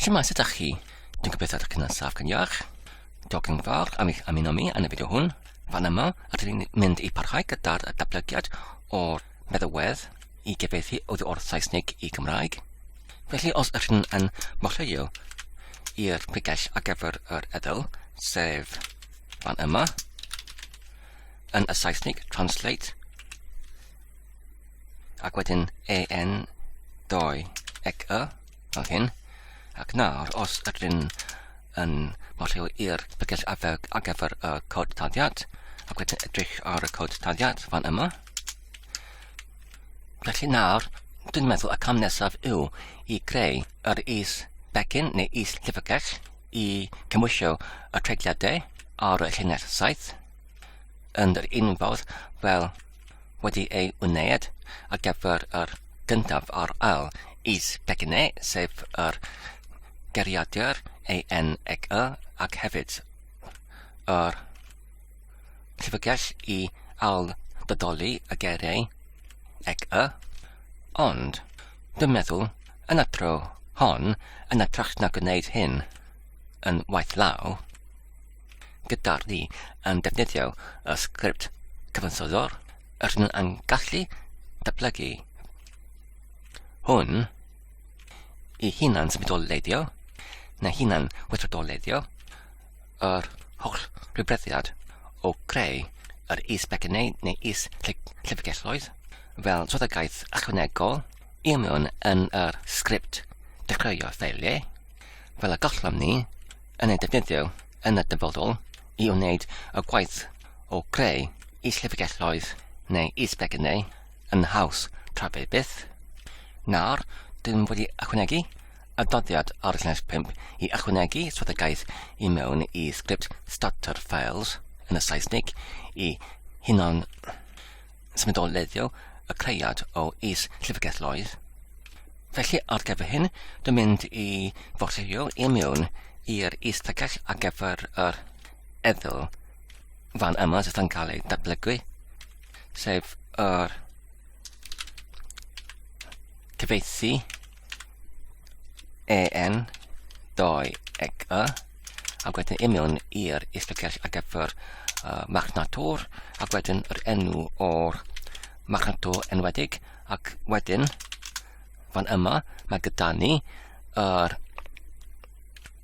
Shwmae, sut ydych chi? Dwi'n gobeithio ydych chi'n yn saff gan iach. Diolch yn fawr am eich ymuno mi yn y fideo hwn. Fan yma, ydych chi'n mynd i parhau gyda'r datblygiad o'r meddywedd i gyfeithi oddi o'r Saesneg i Gymraeg. Felly, os ydych chi'n yn mochleio i'r pregell ar gyfer yr edl, sef fan yma, yn y Saesneg, translate, Ac wedyn en 2 ec y, fel hyn. Ac nawr, os ydyn yn modlio i'r bygell ar gyfer y cod taddiad, ac wedyn edrych ar y cod taddiad fan yma. Felly nawr, dwi'n meddwl y cam nesaf yw i greu yr is becyn neu is llyfrgell i cymwysio y treigliadau ar y llinell saith yn yr un fel wedi ei wneud ar gyfer yr gyntaf ar ail is Begine, sef yr geriadur ENEC ac hefyd yr llyfrgell i ailddodoli y geriau ec y. Ond, dwi'n meddwl, yn y tro hon, yn y trach na gwneud hyn yn waith law, gyda ni yn defnyddio y sgript cyfansoddwr, rydyn yn gallu datblygu hwn i hunan symudolleiddio neu hunan weithredolleiddio yr holl rhywbreddiad o greu yr is-becynnau neu is-llyfrgelloedd fel swyddogaeth ychwanegol i mewn yn yr sgript dechreuo ffeiliau fel y gallwn ni yn ei defnyddio yn y dyfodol i wneud y gwaith o greu is-llyfrgelloedd neu is-becynnau yn haws tra fe byth. Nawr, dyn wedi ychwanegu adoddiad ar llais 5 i ychwanegu swyddogaeth i mewn i sgript starter files yn y Saesnig i hunan symudolleiddio y caead o is Llyfrgell Lloyd. Felly ar gyfer hyn, dwi'n mynd i fortio i mewn i'r is Llyfrgell ar gyfer yr eddyl fan yma sydd yn cael ei datblygu, sef yr cyfeithi en doi ec y ac wedyn union i'r isbiciall ar gyfer uh, machnatwr ac wedyn yr enw o'r machnatwr enwedig ac wedyn fan yma mae gyda ni yr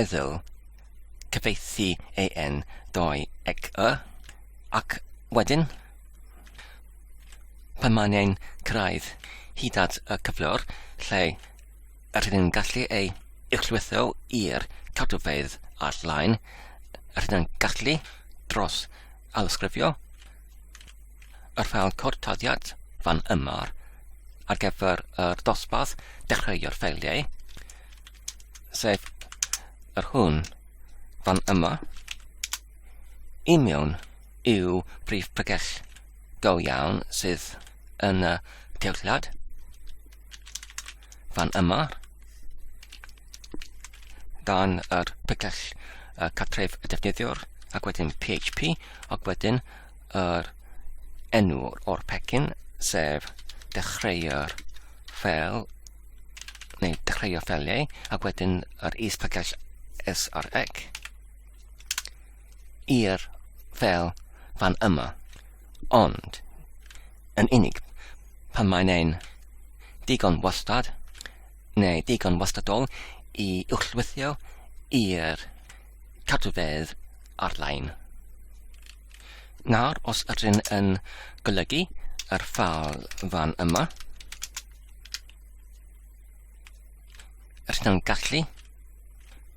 eddyl, cyfieithu AN 2 ec y, ac wedyn, pan mae'n ein cyrraedd hyd at y cyflwr lle rydyn ni'n gallu ei uchlwytho i'r cadwfeydd ar-lein, rydyn ni'n gallu dros alysgrifio yr ffeil cod taddiad fan yma ar gyfer yr dosbarth dechreuo'r ffeiliau, sef yr hwn fan yma i mewn i'w brif pregell go iawn sydd yn y cewllad fan yma dan yr pregell uh, catref y defnyddiwr ac wedyn PHP ac wedyn yr enw o'r pecyn sef dechreu'r ffel neu tri o ffeliau, ac wedyn yr is-package src i'r fel fan yma. Ond, yn unig, pan mae'n ein digon wastad, neu digon wastadol i uwchlwythio i'r cadwfedd ar-lein. Nawr, os ydyn yn golygu yr ffal fan yma, rydyn nhw'n gallu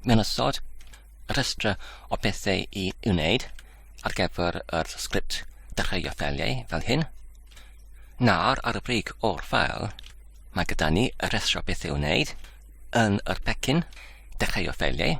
mewn ysod rhestr o bethau i wneud ar gyfer yr sgript dechreuo ffeiliau fel hyn. Nawr ar y brig o'r ffael, mae gyda ni y rhestr o bethau i wneud yn yr pecyn dechreuo ffeiliau.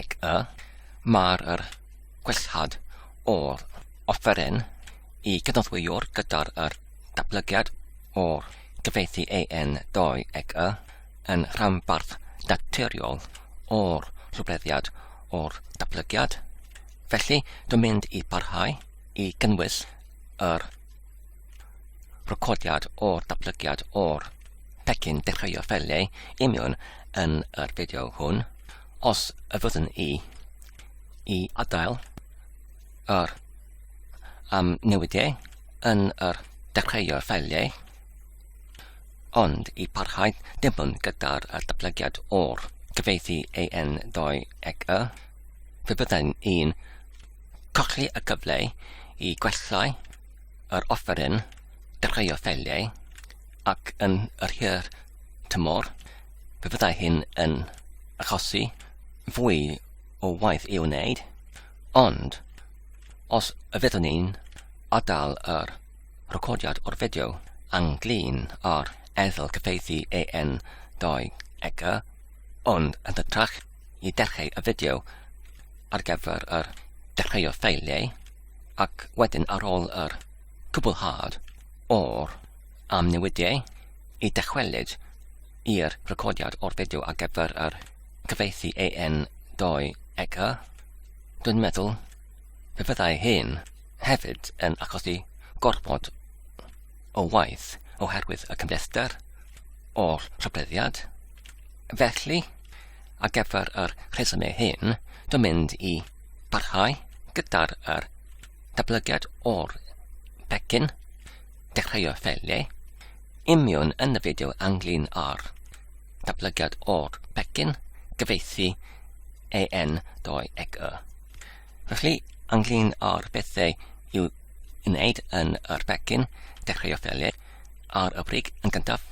Ac y mae'r yr gwellhad o'r offeryn i gydnoddwyr gyda'r yr datblygiad o'r gyfeithi AN 2 ac y yn rhanbarth naturiol o'r rhwbleddiad o'r datblygiad. Felly, dwi'n mynd i barhau i gynnwys yr Recordiad o'r datblygiad o'r pecyn dechreuodd felly union yn yr fideo hwn. Os y fyddwn i i adael yr am newidiau yn yr dechreuodd felly, ond i parhau dim ond gyda'r datblygiad o'r cyfeithi AN 2 ag y, fe byddai'n un colli y cyfle i gwellai yr offeryn drai o ffeliau, ac yn yr hir tymor, fe fyddai hyn yn achosi fwy o waith i'w wneud, ond os y fyddwn ni'n adael yr recordiad o'r fideo anglyn ar eddyl cyfeithi AN 2 ega, ond yn hytrach i dechrau y fideo ar gyfer yr dechreuo ffeiliau, ac wedyn ar ôl yr cwblhad o'r amnewidiau i dychwelyd i'r recordiad o'r fideo ar gyfer yr cyfieithu AN 2 eg y, dwi'n meddwl fe fyddai hyn hefyd yn achosi gorfod o waith oherwydd y cymhlethdr o'r rhybleddiad. Felly, ar gyfer yr rhesymau hyn, dwi'n mynd i Parhau gyda'r er datblygiad o'r pecyn, dechreuo'r ffeiliau, imiwn yn y fideo anglyn ar datblygiad o'r pecyn, gyfeithi EN 2 ec y. Felly, anglyn ar bethau i'w wneud yn yr pecyn, dechreuo'r ffeiliau, ar y brig yn gyntaf,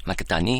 mae gyda ni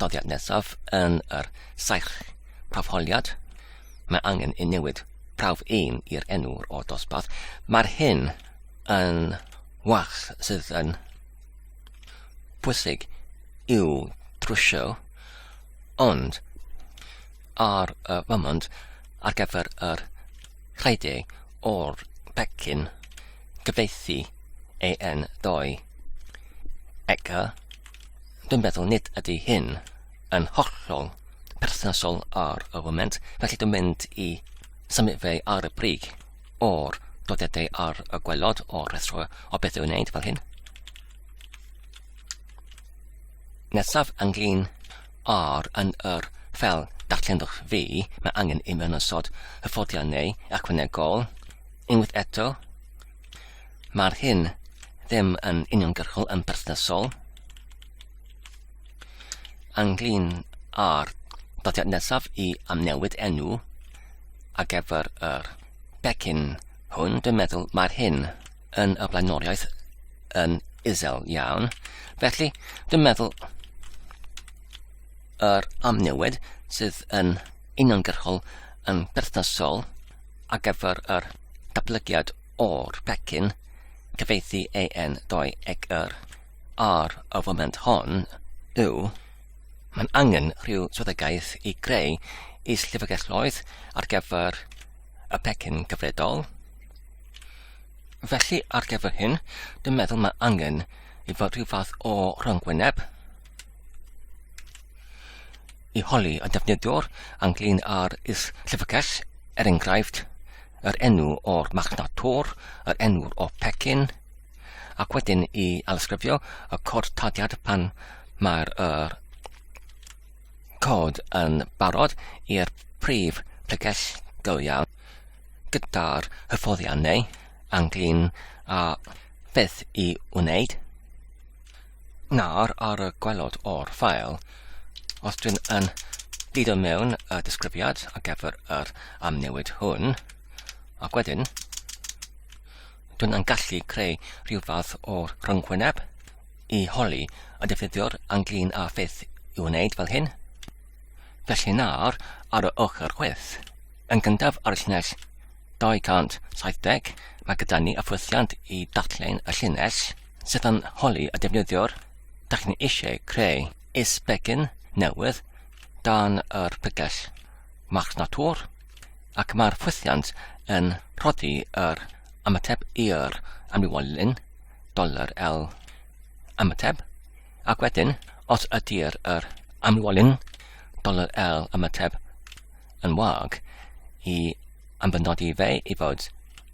dyddiad nesaf yn yr saith prawfholiad. Mae angen i newid prawf un i'r enw o dosbarth. Mae'r hyn yn wach sydd yn bwysig i'w trwsio, ond ar y fymont ar gyfer yr rhaidau o'r pecyn gyfeithi AN2 ECA Dwi'n meddwl nid ydy hyn yn hollol perthnasol ar y foment, felly dwi'n mynd i symud fe ar y brig o'r dodedau ar y gwelod o'r rhestr o beth i'w wneud fel hyn. Nesaf ynglyn ar yn yr fel darllenwch fi, mae angen i mewn ysod hyfforddiannau ychwanegol. Unwaith eto, Mae'r hyn ddim yn uniongyrchol yn berthnasol ynglyn â'r dyddiad nesaf i amnewid enw a gefyr yr becyn hwn, dwi'n meddwl mae'r hyn yn y blaenoriaeth yn isel iawn. Felly, dwi'n meddwl yr amnewid sydd yn uniongyrchol yn berthnasol ar gyfer yr datblygiad o'r pecyn cyfieithu AN 2 ag yr ar y foment hon yw mae'n angen rhyw swyddogaeth i greu is-llyfrgelloedd ar gyfer y pecyn gyfredol. Felly ar gyfer hyn, dwi'n meddwl mae angen i fod rhyw fath o rhwng wyneb. i holi y defnyddiwr ynglŷn â'r is-llyfrgell, er enghraifft, yr enw o'r marchnad tor, yr enw o pecyn, ac wedyn i alysgrifio y cod tadiad pan mae'r er, cod yn barod i'r prif pregell go iawn gyda'r hyfforddiannau ynglŷn â beth i wneud. Nawr ar y gwelod o'r ffael, os dwi'n yn dido mewn y disgrifiad ar gyfer yr amnewid hwn, ac wedyn dwi'n yn gallu creu rhyw fath o rhyngwyneb i holi y defnyddiwr ynglyn â pheth i'w wneud fel hyn. Felly nawr ar y ochr chwith, yn gyntaf ar y llinell 270 mae gyda ni y ffwythiant i ddatlen y llinell sydd yn holi y defnyddiwr, da chi'n eisiau creu is-begin newydd dan yr pregell Marks Natur ac mae'r ffwythiant yn rhoddi yr ymateb i'r amrywiolyn doler L ymateb ac wedyn os ydy'r yr amrywiolyn doler L ymateb yn wag i anfynodi fe i fod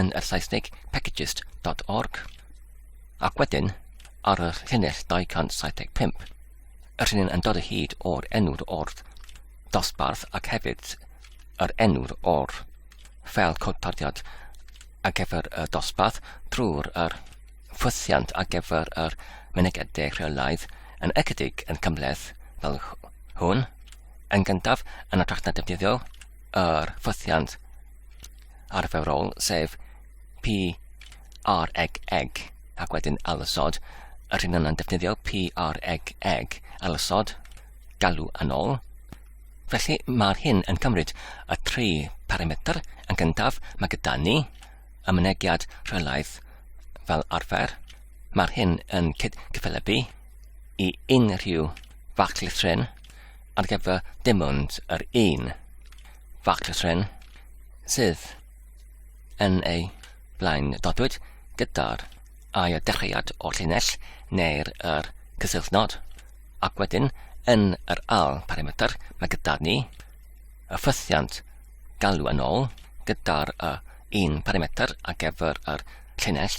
yn y Saesneg packages.org, ac wedyn ar y llinell 275, yr hyn yn dod o hyd o'r enw'r o'r dosbarth ac hefyd yr enw'r o'r ffel codpardiad ar gyfer y dosbarth drwy'r yr ffwythiant ar gyfer yr mynegedau rheolaidd yn ychydig yn cymleth fel hwn, yn gyntaf yn y drachta defnyddiol, yr ffwythiant arferol, sef P, R, eg, eg, ac wedyn alysod, yr hyn yna'n defnyddio P, R, eg, eg, alysod, galw yn ôl. Felly mae'r hyn yn cymryd y tri parametr yn gyntaf, mae gyda ni y mynegiad rheolaidd fel arfer. Mae'r hyn yn cyffelybu i unrhyw fach llithrin ar gyfer dim ond yr un. factor trên sydd yn ei blaen dodwyd gyda'r ail dechreuad o'r llinell neu'r yr cysylltnod ac wedyn yn yr al parametr mae gyda ni y ffythiant galw yn ôl gyda'r y un parametr ar gyfer yr llinell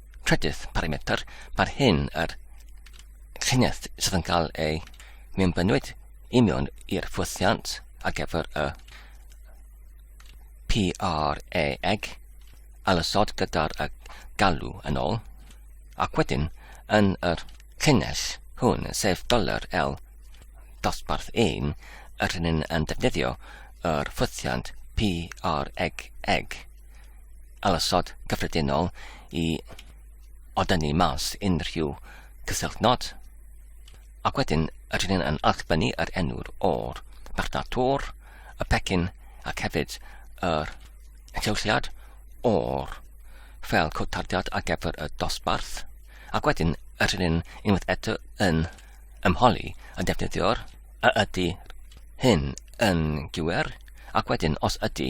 trydydd parametr, mae'r hyn yr llinell sydd yn cael ei mewnbynwyd i mewn i'r ffwythiant ar gyfer y PRA eg alysod gyda'r y galw yn ôl, ac wedyn yn yr llinell hwn, sef doler L dosbarth 1, yr hyn yn defnyddio yr ffwythiant PREG eg. alasod cyffredinol i odynnu mas unrhyw cysyllt nod. Ac wedyn, rydyn ni'n yn allfynnu yr enw'r o'r marchnad tor, y pecyn ac hefyd yr enllewsiad o'r fel cod tardiad ar gyfer y dosbarth. Ac wedyn, rydyn ni'n unwaith eto yn ymholi y defnyddiwr a ydy hyn yn gywir ac wedyn os ydy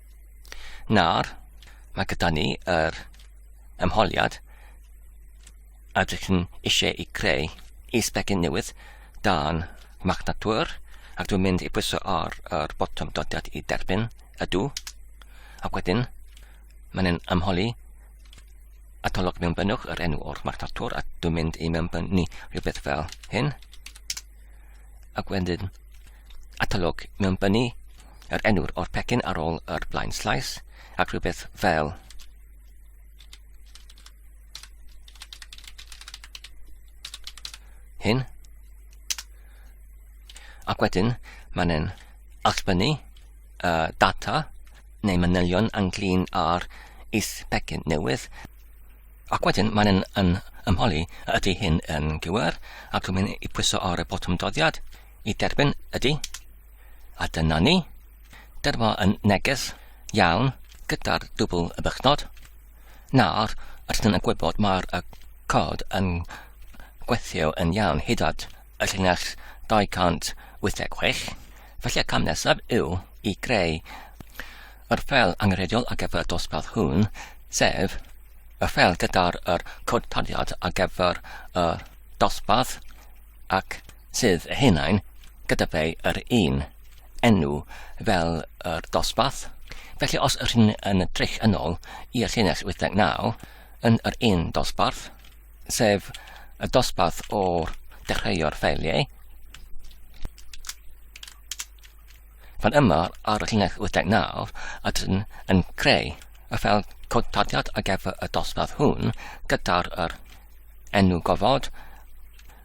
Nawr, mae gyda ni yr ymholiad a dych chi'n eisiau ei greu i sbecyn newydd dan Magnatur ac dwi'n mynd i pwyso ar yr botwm dodiad i derbyn ydw ac wedyn mae'n yn ymholi a tolwg mewn bynnwch yr enw o'r Magnatur a dwi'n mynd i mewn byn ni rhywbeth fel hyn ac wedyn atolwg mewn bynnu yr enw o'r pecyn ar ôl yr blaen slaes, ac rhywbeth fel hyn. Ac wedyn, mae'n e'n allbynnu uh, data neu manylion ynglyn â'r is pecyn newydd. Ac wedyn mae'n yn, yn ymholi ydy hyn yn gywir ac dwi'n mynd i pwyso ar y botwm doddiad i derbyn ydy. A dyna ni. Dyma yn neges iawn gyda'r dwbl y bychnod. Nawr, rydyn yn gwybod mae'r y cod yn gweithio yn iawn hyd at y llinell 286. Felly y cam nesaf yw i greu yr ffel angenrheidiol ar gyfer y dosbarth hwn, sef y ffel gyda'r yr cod taliad ar gyfer y dosbarth ac sydd eu hunain gyda fe yr un enw fel yr dosbarth, felly os ydych chi'n yn edrych yn ôl i'r llinell 89 yn yr un dosbarth, sef y dosbarth o dechreuo'r ffeiliau, fan yma ar y llinell 89 ydyn yn creu y ffel codtadiad ar gyfer y dosbarth hwn gyda'r enw gofod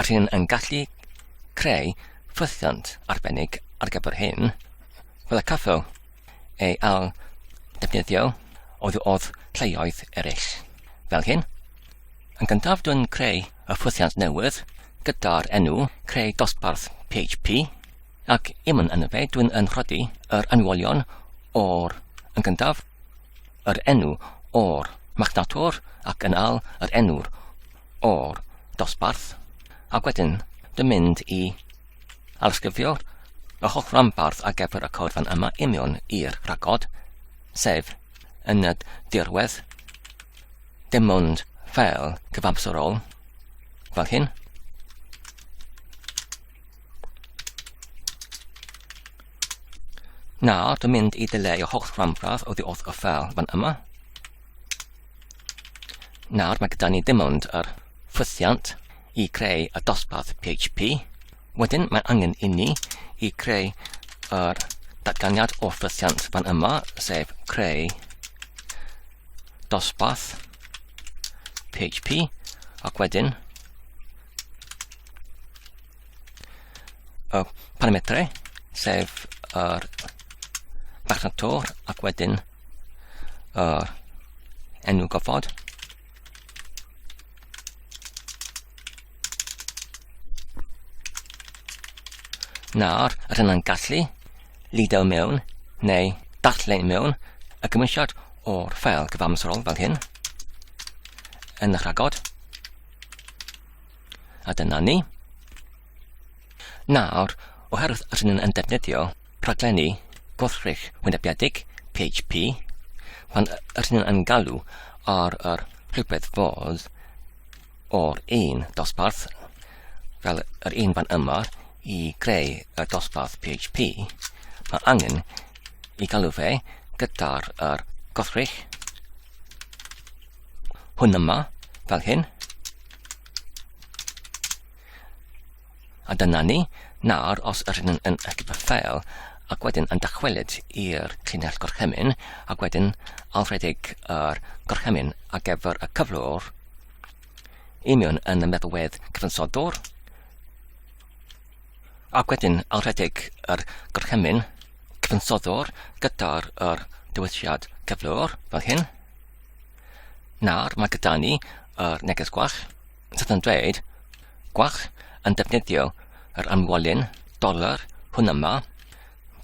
yr hyn yn gallu creu ffwythiant arbennig ar gyfer hyn, fel y caffew ei al defnyddio oedd oedd lleoedd eraill. Fel hyn, yn gyntaf dwi'n creu y ffwythiant newydd gyda'r enw creu dosbarth PHP ac im yn yna fe dwi'n yn rhoddi yr anwolion o'r yn gyntaf yr enw o'r machnatwr ac yn al yr enw'r o'r dosbarth ac wedyn dwi'n mynd i alysgrifio'r y holl ranbarth ar gyfer y cod fan yma i mewn i'r rhagod, sef yn y dirwedd, dim ond fel cyfamserol, fel hyn. Nawr, dwi'n mynd i dileu y holl ranbarth oddi wrth y ffel fan yma. Nawr mae gyda ni dim ond yr ffwythiant i creu y dosbarth PHP. Wedyn mae angen i ni i creu yr datganiad o ffwythiant fan yma, sef creu dosbarth PHP ac wedyn y parametrau, sef yr farchnad to ac wedyn yr enw gofod. Nawr, yr hynna'n gallu lido mewn neu darllen mewn y gymwysiad o'r ffeil gyfamserol fel hyn yn y rhagod. A dyna ni. Nawr, oherwydd rydyn ni'n yn defnyddio rhaglenni gwrthrych wynebiedig, PHP, pan rydyn ni'n yn galw ar yr rhywbeth fodd o'r un dosbarth, fel yr un fan yma, i greu y dosbarth PHP, mae angen i galw fe gyda'r er gwrthrych hwn yma, fel hyn. A dyna ni, nawr os ydyn yn, yn eich ffeil, ac wedyn yn dychwelyd i'r llinell gorchymyn, ac wedyn alfredig yr gorchymyn ar gyfer y cyflwr, imiwn yn y meddalwedd cyfansodwr, ac wedyn alfredig yr gorchymyn cyfansodwr gyda'r dywylliad cyflwr, fel hyn. Nawr mae gyda ni yr neges gwach sydd yn dweud gwach yn defnyddio yr amwolyn dolar hwn yma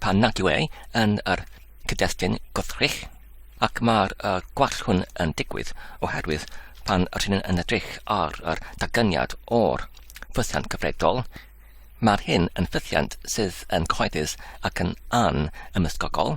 pan nad yw e yn yr cyd-destun gwrthrych ac mae'r uh, gwall hwn yn digwydd oherwydd pan rydyn ni'n yn edrych ar yr dagyniad o'r ffythiant cyfredol, mae'r hyn yn ffythiant sydd yn cyhoeddus ac yn an ymysgogol.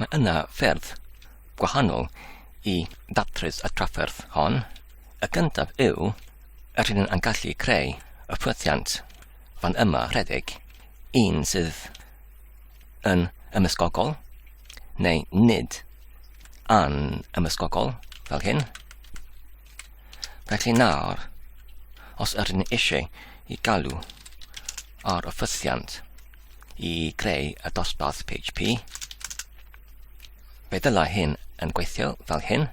Mae yna ffyrdd gwahanol i ddatrys y trafferth hon. Y gyntaf yw, rydyn yn gallu creu y ffwythiant fan yma rhedeg, un sydd yn ymysgogol, neu nid an ymysgogol, fel hyn. Felly nawr, os ydyn eisiau i galw ar y ffwythiant i greu y dosbarth PHP. Fe ddyla hyn yn gweithio fel hyn.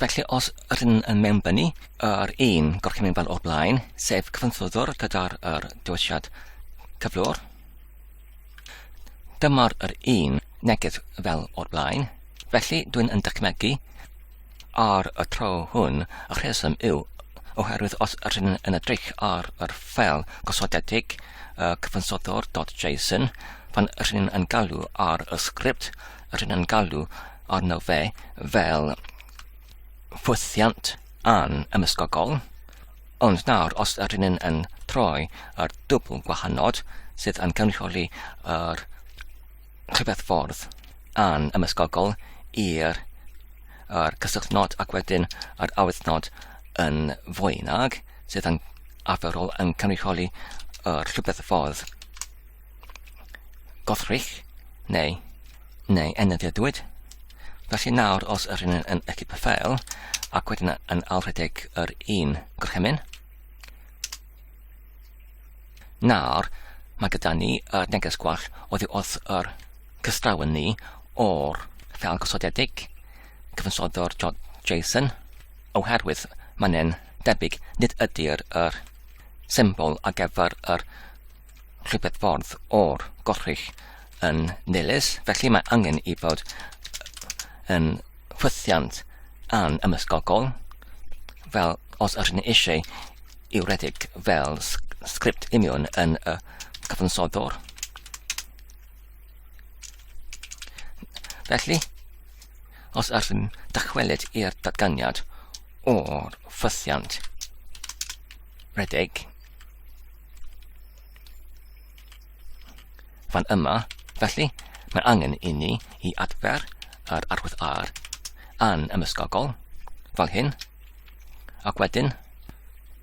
Felly os rydyn yn mewnbynnu yr un gorchymyn fel o'r blaen, sef cyfansoddwr gyda'r er dywisiad cyflwr, dyma'r yr un neges fel o'r blaen. Felly dwi'n yn dychmygu Ar y tro hwn, y rheswm yw oherwydd os ydyn yn edrych ar yr ffel gosodedig uh, cyfansoddwr.json, pan ydyn yn galw ar y sgript, ydyn yn galw arno fe fel ffwythiant an ymysgogol, ond nawr os ydyn yn, yn troi ar dwbl gwahanod sydd yn cynrychioli yr rhywbeth ffordd an ymysgogol i'r yr cysylltnod ac wedyn yr awyddnod yn fwy nag sydd yn arferol yn cynrychioli yr rhywbeth ffordd gothrych neu neu enyddiadwyd. Felly nawr os yr un yn equip y ffeil ac wedyn yn alrhedeg yr un gorchymyn, Nawr, mae gyda ni y neges gwall oddi wrth yr cystrawn ni o'r ffel gosodedig, cyfansoddo'r JSON, oherwydd mae'n debyg nid ydy'r yr symbol ar gyfer yr rhywbeth ffordd o'r gorchull yn nilys, felly mae angen i fod yn chwythiant an ymysgogol, fel os ydyn ni eisiau i'w redeg fel sgript union yn y cyfansoddwr. Felly, os ydyn dychwelyd i'r datganiad o'r ffythiant redeg, fan yma, felly mae angen i ni i adfer yr arwydd R yn ymysgogol, fel hyn, ac wedyn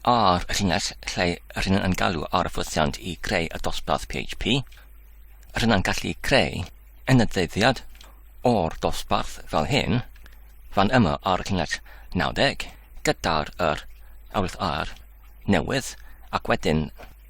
ar y llinell lle yr hyn yn galw ar y ffosiant i greu y dosbarth PHP, yr hyn yn gallu creu yn y ddeuddiad o'r dosbarth fel hyn, fan yma ar y llinell 90, gyda'r yr arwydd R newydd, ac wedyn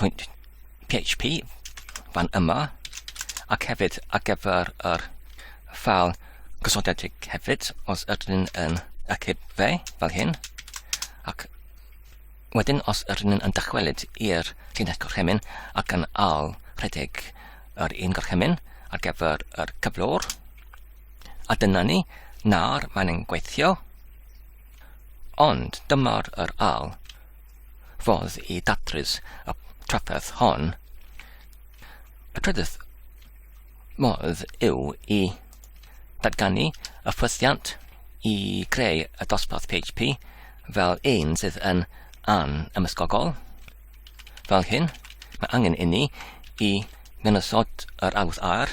pwynt PHP fan yma ac hefyd ar gyfer yr ffal gosodedig hefyd os ydyn ni'n yn ychyb fe fel hyn ac wedyn os ydyn ni'n yn dychwelyd i'r llinell gorchymyn ac yn al rhedeg yr un gorchymyn ar gyfer yr cyflwr a dyna ni nawr mae'n gweithio ond dyma'r yr al fodd i datrys y trafferth hon. Y trydydd modd yw i datganu y ffythiant i greu y dosbarth PHP fel un sydd yn an ymysgogol. Fel hyn, mae angen inni i mynysodd yr awdd ar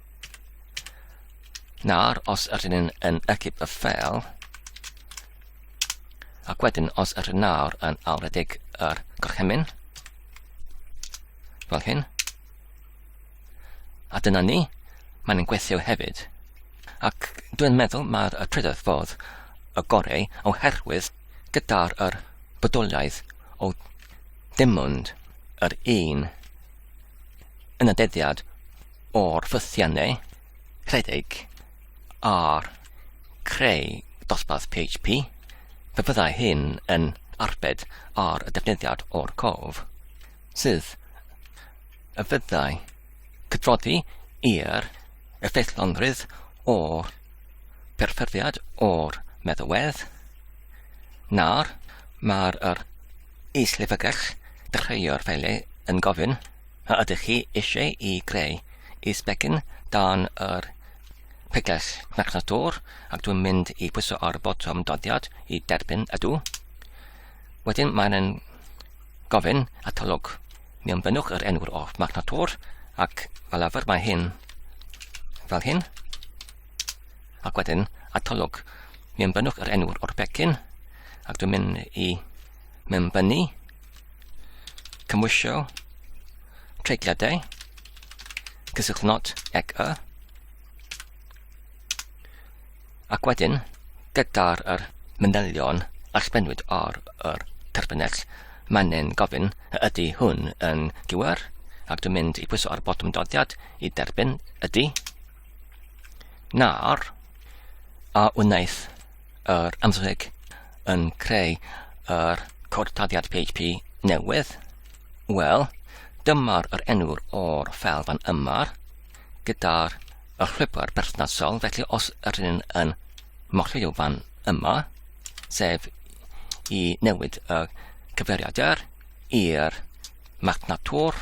Nawr, os ydyn ni'n yn ecip y ffeil, ac wedyn os ydyn nawr yn awredig yr gorchymyn, fel hyn, a dyna ni, mae'n gweithio hefyd. Ac dwi'n meddwl mae'r trydydd fodd y gorau oherwydd gyda'r yr bodoliaeth o dim ond yr un yn y deddiad o'r ffythiannau rhedeg ar creu dosbarth PHP, fe fyddai hyn yn arbed ar y defnyddiad o'r cof, sydd y fyddai cydroddi i'r effeithlonrwydd o'r perfformiad o'r meddalwedd, na'r mae'r is-lefygell dechreuo'r ffeiliau yn gofyn. A ydych chi eisiau i greu is-begin dan yr pregles Macna Dŵr ac dwi'n mynd i pwyso ar y botwm doddiad i derbyn ydw. Wedyn mae'n gofyn atalog. Mi ymbynnwch yr enw'r off Macna Dŵr ac fel arfer mae hyn fel hyn ac wedyn atalog. Mi ymbynnwch yr enw'r o'r becyn ac dwi'n mynd i mewnbynnu cymwysio treigliadau, cyswllt not ac y, ac wedyn gyda'r yr manylion a sbenwyd ar yr terfynell, mae'n gofyn y ydy hwn yn gywir, ac dwi'n mynd i pwyso ar y botwm doddiad i derbyn ydy, na'r a wnaeth yr ymdrech yn creu yr cortadiad PHP newydd, wel, dyma'r yr enw'r o'r ffel fan yma, gyda'r y llwybr berthnasol, felly os yr un yn morlio fan yma, sef i newid y cyfeiriadau i'r marchnatwr,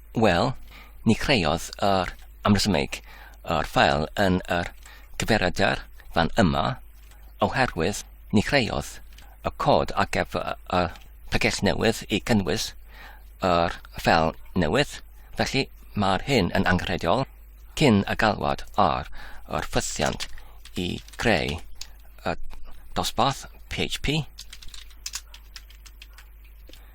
Wel, ni creodd yr amresymeg yr ffael yn yr cyfeiriadr fan yma, oherwydd ni creodd y cod ar gyfer y pregeth newydd i gynnwys yr ffael newydd, felly mae'r hyn yn angenrheidiol cyn y galwad ar yr ffythiant i greu y dosbarth php.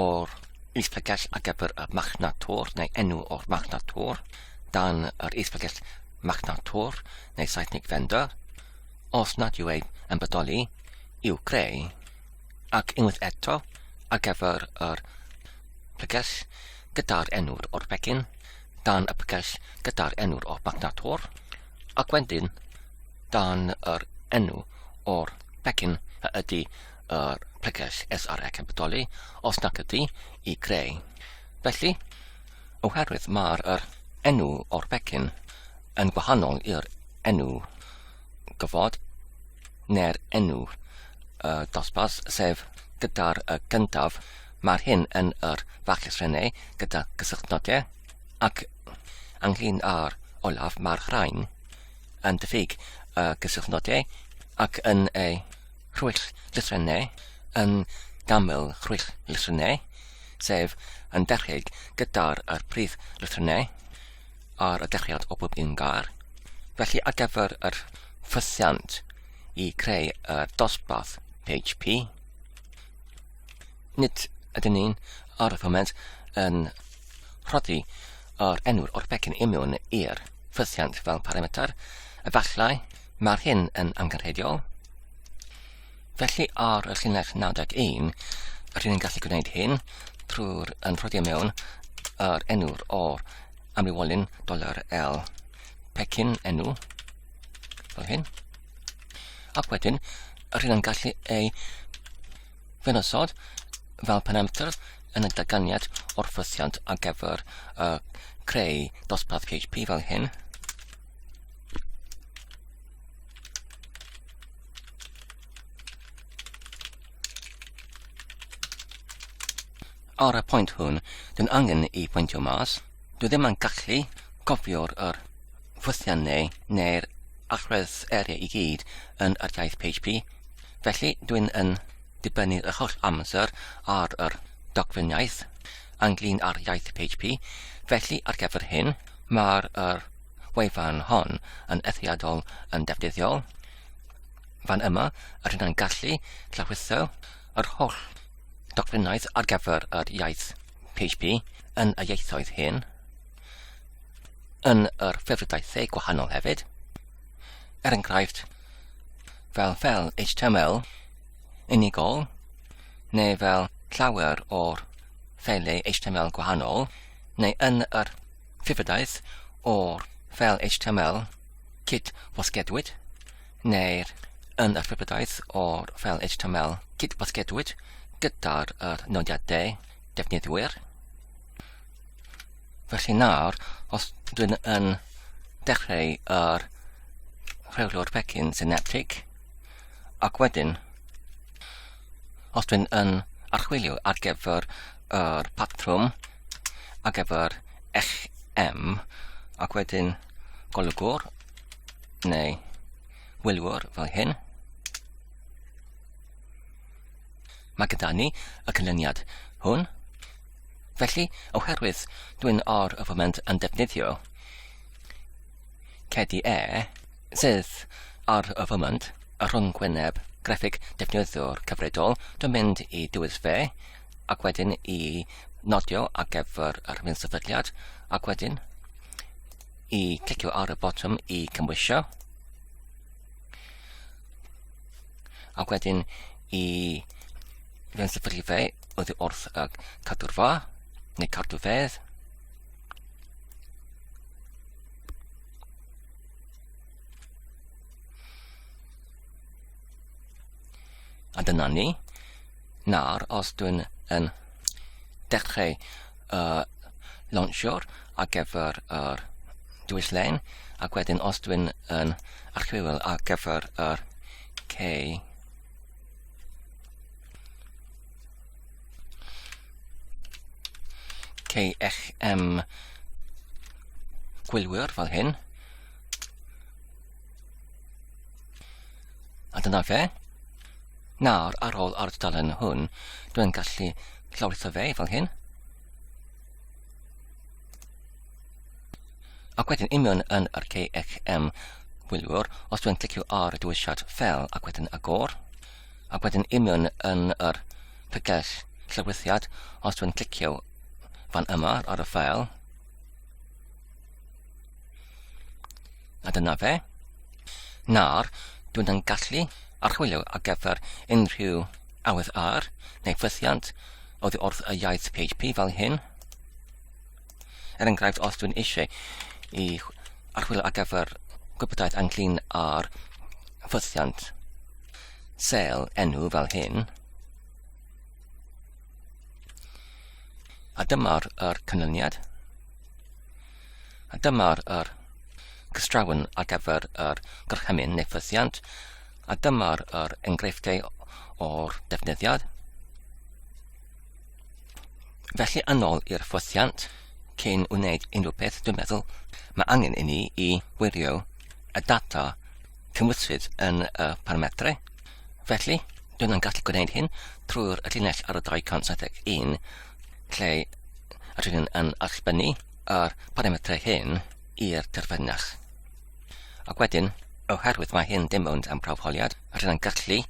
o'r is-bregeth ar gyfer y machnad tor neu enw o'r machnad tor dan yr is-bregeth machnad tor neu Saesneg vendor os nad yw ei yn bodoli i'w greu ac unwaith eto ar gyfer yr pregell gyda'r enw'r o'r pecyn dan y pregell gyda'r enw'r o'r machnad tor ac wedyn dan yr enw o'r pecyn a ydy yr pregell SR ac yn bodoli, os nac ydy, i greu. Felly, oherwydd mae'r er enw o'r pecyn yn gwahanol i'r enw gyfod neu'r enw y dosbarth, sef gyda'r y gyntaf, mae'r hyn yn yr fachus rhenau gyda gysylltnodau ac ynglyn â'r olaf mae'r rhain yn diffyg y gysylltnodau ac yn ei rhwyll llythrennau yn ganmol rhwyll llythrennau, sef yn dechrau gyda'r a'r prif lythrennau ar y dechreuad o bob un gair. Felly ar gyfer yr ffysiant i creu y dosbarth PHP, nid ydyn ni'n ar y foment yn rhoddi yr enw'r o'r becyn imiwn i'r ffysiant fel parameter, efallai Mae'r hyn yn angenrheidiol. Felly ar y llinell 91, rydyn ni'n gallu gwneud hyn trwy'r yn rhoddi mewn yr enw'r o'r amrywolyn doler L pecyn enw fel hyn. Ac wedyn, rydyn ni'n gallu ei fenosod fel penamter yn y daganiad o'r ffysiant ar gyfer uh, creu dosbarth PHP fel hyn. Ar y pwynt hwn, dwi'n angen i pwyntio mas. Dwi ddim yn gallu cofio'r yr ffwythian neu neu'r allwedd area i gyd yn yr iaith PHP. Felly, dwi'n yn dibynnu y holl amser ar yr dogfenniaeth ynglyn â'r iaith PHP. Felly, ar gyfer hyn, Mae'r yr wefan hon yn eithriadol yn defnyddiol. Fan yma, yr hynna'n gallu llawrithio yr holl dogfennaeth ar gyfer yr iaith PHP yn y ieithoedd hyn, yn yr ffefrydaethau gwahanol hefyd, er enghraifft fel fel HTML unigol neu fel llawer o'r ffeiliau HTML gwahanol neu yn yr Ffibydaeth o'r fel HTML cyd wasgedwyd, neu'r yn yr Ffibydaeth o'r fel HTML cyd wasgedwyd gyda'r yr nodiadau defnyddwyr. Felly nawr, os dwi'n yn dechrau yr rheolwr pecyn syneptig, ac wedyn Os dwi'n yn archwilio ar gyfer yr patrwm ar gyfer eich M ac wedyn golygwr neu wylwyr fel hyn. Mae gyda ni y canlyniad hwn. Felly, oherwydd dwi'n ar y foment yn defnyddio Cedi E, sydd ar y foment y rhynghwyneb greffig defnyddiwr cyfredol, dwi'n mynd i dywys fe, ac wedyn i nodio ar gyfer yr hyn sefydliad, ac wedyn i clicio ar y botwm i cymwysio, ac wedyn i fewn sefydlu fe oddi wrth y cadw'r fa, neu cadw fedd. A dyna ni. Nawr, os dwi'n yn dechrau uh, launchio'r ar gyfer yr dwys lein, ac wedyn os dwi'n yn archwil ar gyfer yr K KXM gwylwyr fel hyn. A dyna fe. Nawr, ar ôl ar dudalen hwn, dwi'n gallu llawritho fe fel hyn. Ac wedyn union yn yr KXM gwylwyr, os dwi'n clicio ar y dywisiad fel ac wedyn agor, ac wedyn union yn yr pregell llawrythiad, os dwi'n clicio fan yma ar y ffael, a dyna fe, nawr dwi'n yn gallu archwilio ar gyfer unrhyw awydd ar neu ffythiant oddi wrth y iaith PHP fel hyn, Er enghraifft, os dwi'n eisiau i archwilio ar gyfer gwybodaeth ynglyn â'r ffythiant sel enw fel hyn, a dyma'r er canlyniad, a dyma'r er cystrawn ar gyfer yr gorchymyn neu ffythiant, a dyma'r er enghreifftiau o'r defnyddiad, Felly yn ôl i'r ffosiant, cyn wneud unrhyw beth dwi'n meddwl, mae angen i ni i wirio y data cymwysfyd yn y parametrau. Felly, dwi'n yn gallu gwneud hyn trwy'r llinell ar y 271 lle rydyn ni'n yn allbynnu yr parametrau hyn i'r terfynach. Ac wedyn, oherwydd mae hyn dim ond am prawfholiad, rydyn ni'n gallu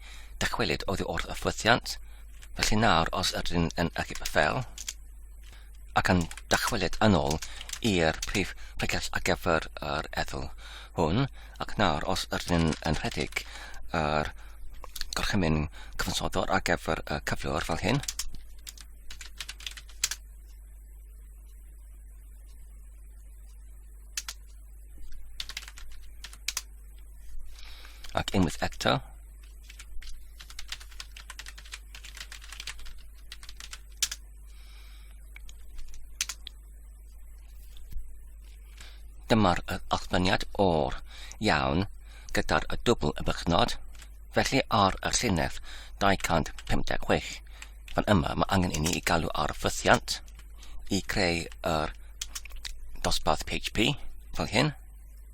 dychwelyd oddi wrth y ffosiant Felly nawr, os ydyn yn achub y ffel, ac yn dychwelyd yn ôl i'r prif pregeth ar gyfer yr ethol hwn, ac nawr, os ydyn yn rhedeg yr gorchymyn cyfansoddwr ar gyfer y cyflwr fel hyn, ac unwaith eto, Dyma'r allbyniad o'r iawn gyda'r y dwbl y bychnod, felly ar y llinell 256. Fan yma mae angen i ni i galw ar ffythiant i creu yr dosbarth PHP fel hyn.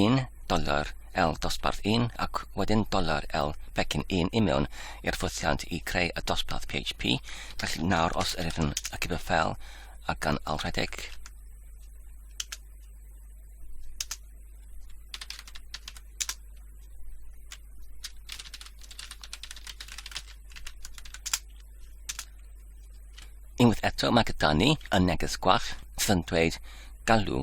1 doler L dosbarth 1 ac wedyn doler L pecyn 1 i mewn i'r ffwythiant i creu y dosbarth PHP. Felly nawr os ydych yn y cyfer ffel a gan alredeg, Unwaith eto mae gyda ni y neges gwach sydd yn dweud galw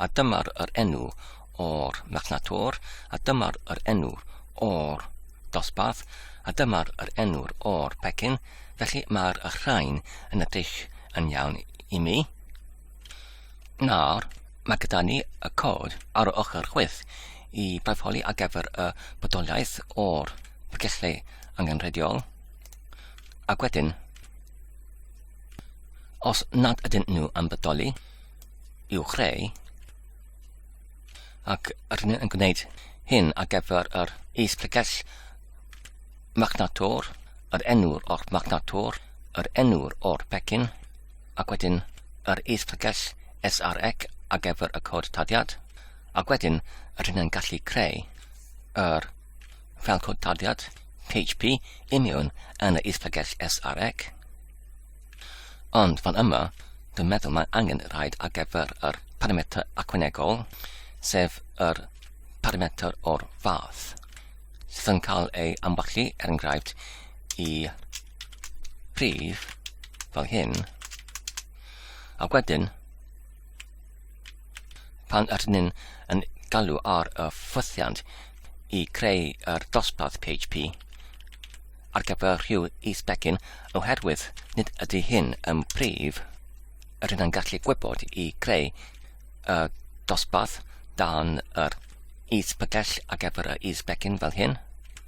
A dyma'r yr enw o'r machnatwr, a dyma'r yr enw o'r dosbarth, a dyma'r yr enw'r o'r pecyn, felly mae'r rhain yn edrych yn iawn i mi. Nawr, mae gyda ni y cod ar y ochr chwith i barfoli ar gyfer y bodolaeth o'r pregethlu angenrheidiol. Ac wedyn, os nad ydyn nhw yn bodoli, i'w chreu, ac rydyn nhw'n gwneud hyn ar gyfer yr is-pregell magnator, yr enw'r o'r magnator, yr enw'r o'r pecyn, ac wedyn yr is-pregeth SREC ar gyfer y cod tarddiad, ac wedyn rydyn yn gallu creu yr fel cod tarddiad PHP i mewn yn y is-pregeth SREC. Ond fan yma, dwi'n meddwl mae angen rhaid ar gyfer yr parametr acwenegol, sef yr parametr o'r fath, sydd yn cael ei amwallu, er enghraifft, i prif fel hyn. A wedyn, pan ydyn ni'n yn galw ar y ffwythiant i creu yr dosbarth PHP ar gyfer rhyw is-begin oherwydd nid ydy hyn yn prif, rydyn ni'n gallu gwybod i creu y dosbarth dan yr is-bygell ar gyfer y is-begin fel hyn.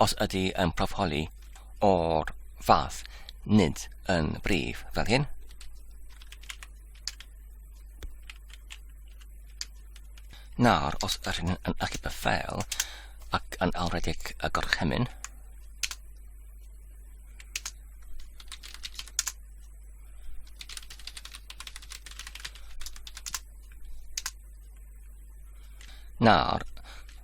os ydy yn proffoli o'r fath, nid yn brif, fel hyn. Nawr, os yr hyn yn achub y ffeil ac yn alwredig y gorchymyn, Nawr,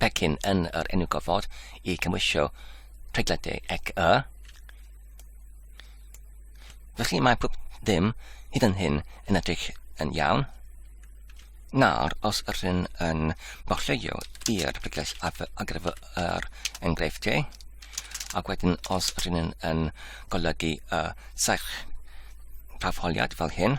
pecyn yn yr enw gofod i cymwysio pregledau ec y. Felly mae pob dim hyd yn hyn yn edrych yn iawn. Nawr, os rhywun yn bollio i'r pregles ar gyfer yr enghreifftiau, ac wedyn os rhywun yn golygu y serch prafholiad fel hyn,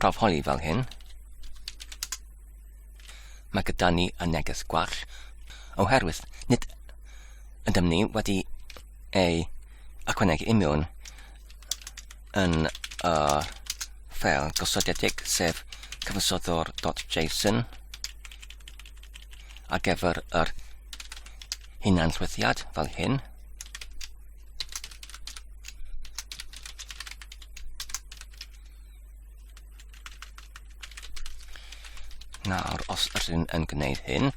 Prawf holi fel hyn. Mae gyda ni y neges gwall oherwydd nid ydym ni wedi ei ychwanegu i mewn yn y ffel gosodedig sef cyfansoddwr.json ar gyfer yr hunanllwythiad fel hyn. Nawr, os ydyn yn gwneud hyn,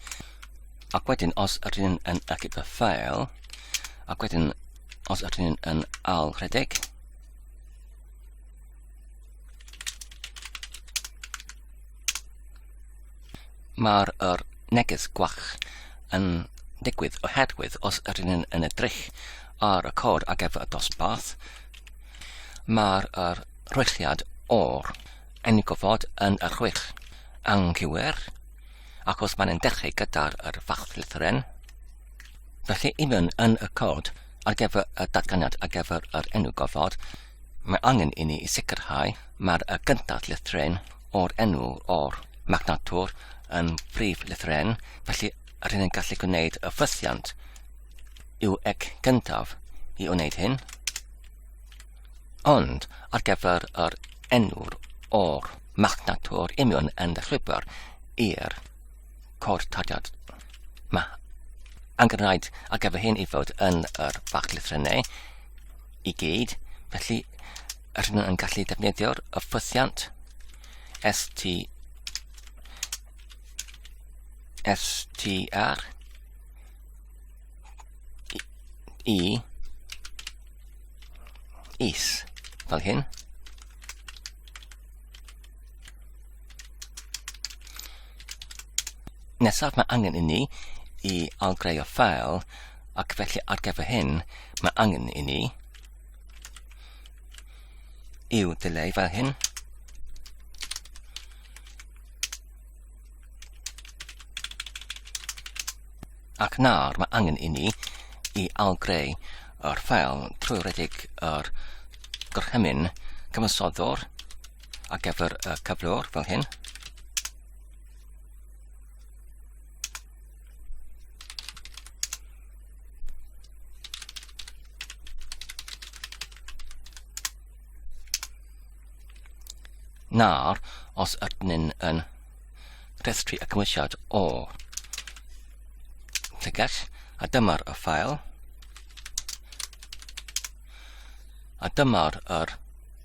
ac wedyn os ydyn yn ychydig y ffael, ac wedyn os ydyn yn al rhedeg, Mae'r er neges gwach yn digwydd oherwydd os yr un yn edrych ar y cod ar gyfer y dosbarth, mae'r er rhwychiad o'r enw gofod yn y rhwych anghywir, ac os mae'n dechrau gyda'r er fach lythyren, felly un yn y cod ar gyfer y datganiad ar gyfer yr enw gofod, Mae angen i ni sicrhau mae'r y gyntaf lythren o'r enw o'r magnator yn brif lythren, felly rydyn ni'n gallu gwneud y ffysiant i'w ec gyntaf i wneud hyn. Ond ar gyfer yr enw'r o'r magnator imion yn y llwybr i'r cod tadiad. Mae angen rhaid ar gyfer hyn i fod yn yr fach lythrennau i gyd, felly rydyn nhw'n gallu defnyddio'r ffythiant STR i is fel hyn. Nesaf mae angen inni i algreu'r ffeil ac felly ar gyfer hyn mae angen inni i'w dileu fel hyn. Ac nawr mae angen inni i algreu yr ffeil trwy redeg yr gorchymyn cyfansoddwr ar gyfer y cyflwr fel hyn. Nawr, os ydyn yn rhestru y cymwysiad o llygell, a dyma'r y ffael, a dyma'r yr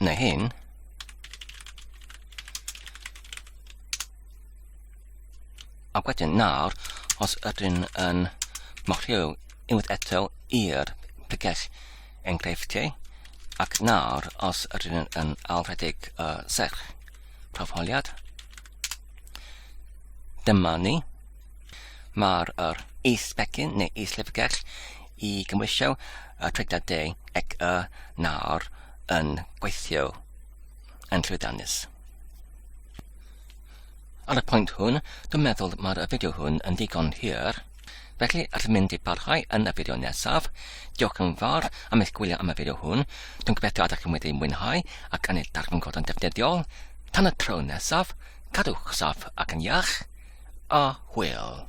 Neu hyn. Ac wedyn nawr, os ydyn yn marcio unwaith eto i'r pregell enghreifftiau, ac nawr, os ydyn nhw'n yn alfredig y uh, serch profoliad, dyma ni. Mae'r yr is-becyn neu is-llyfrgell i gymwysio y tregdadau ac y nawr yn gweithio yn llwyddiannus. Ar y pwynt hwn, dwi'n meddwl mae'r fideo hwn yn ddigon hir, felly allwn mynd i barhau yn y fideo nesaf. Diolch yn fawr am eich gwylio am y fideo hwn. Dwi'n gobeithio ydych chi'n wedi mwynhau ac yn ei darganfod yn defnyddiol. Tan y tro nesaf, cadwch saff ac yn iach. a hwyl.